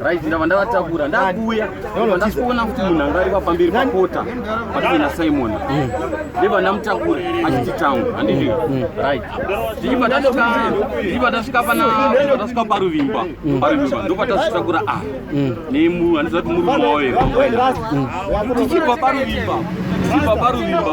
Right, ndava ndavatakura ndakuuya ndasikuona kuti munhu anga ari papamberi pakota patuve nasimon mm. ndeva ndamutakura achiti town handiti mm. right ndichiva ndasvika pana ndasvika paruvimba mm. paruvimba ndopatazvitakura a ah, nemu handiziva kuti murume wawo here ndichibva paruvimba ndichibva paruvimba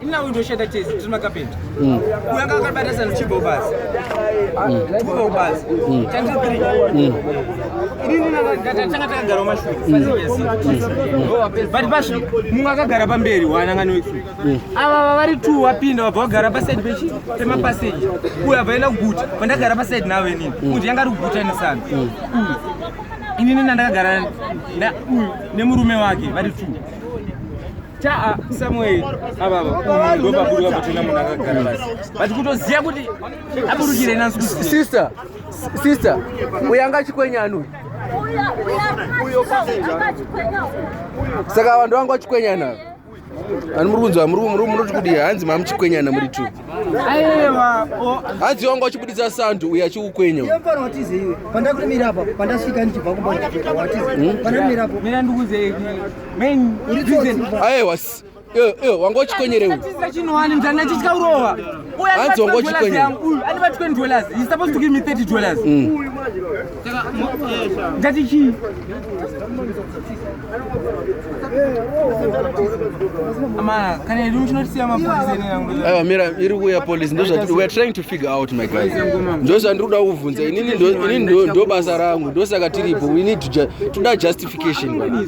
Ina undoshanda chese tiri makapenda. Mm. Uya kakabata sana chibho basi. Chibho mm. basi. Mm. Chantiri tiri. Ini nina ndatanga takagara mashure. But basi munhu akagara pamberi wanangano isu. Ava vari two wapinda wabva wagara pa side pechi pema passage. Uya vaenda kuguta. Pandagara pa side nawe nini. Kuti yanga ari kuguta ni sana. Ini nina ndakagara na uyu nemurume wake vari two. Chaa Samuel ava ndobaburuka kuchena munhu akagara basi but kutoziva kuti aburukire nansi sister sister uyo anga achikwenyana uyo saka vanhu vanga vachikwenyana ani muri kunzwa munoti kudii hanzi mamuchikwenyana muri two hanzi wanga uchibuditsa sandu uyo achikukwenya hmm? aiwa wanga uchikonyerewe hanzi wanga uchikonyerewandatichii aiwa mira iri kuuya police ndoweare trying to figure out my guys ndozvandiri kuda kuvhunza inini ndo basa rangu ndosaka tiripo we need to toda justification Application bwana.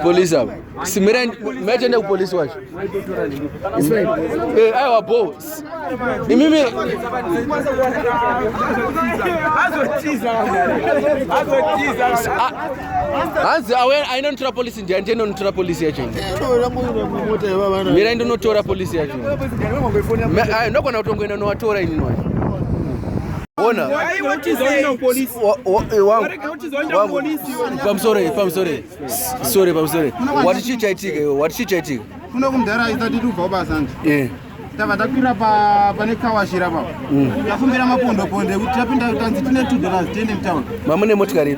Police hapo. Simira mmetende kupolisi wacho. Eh, ayo hapo. Ni mimi hanzi awe aina notora polisi ndi andienda notora polisi yacho mira ndinotora polisi yacho nokona kutongoenda nowatora inini wacho Ona. Pamusore, pamusore. Sorry, pamusore. Wati chii chaitika iwe? Wati chii chaitika? Kuno kumdhara aita tiri kubva basa nje. Eh. Tava takwira pa pane kawashira pa. Mm. Tafumbira mapondo pondo ekuti tapinda tanzi tine 2 dollars 10 in town. Mamune motikari.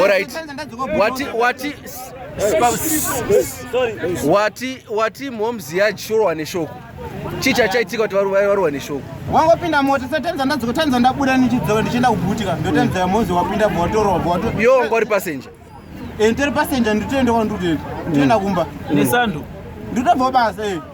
Alright. Wati wati wati wati mom's yard shoro wane shoko. Chicha chaitika kuti vari vari wane shoko. Wangopinda mota sasa tanza ndadzo tanza ndabuda nichidzoka ndichienda kubutika. Ndotanza ya mom's wapinda botoro wato. Yo ngori passenger. Enter passenger nditoenda kwandutenda. Nditoenda kumba. Nesando. Nditobva basa eh.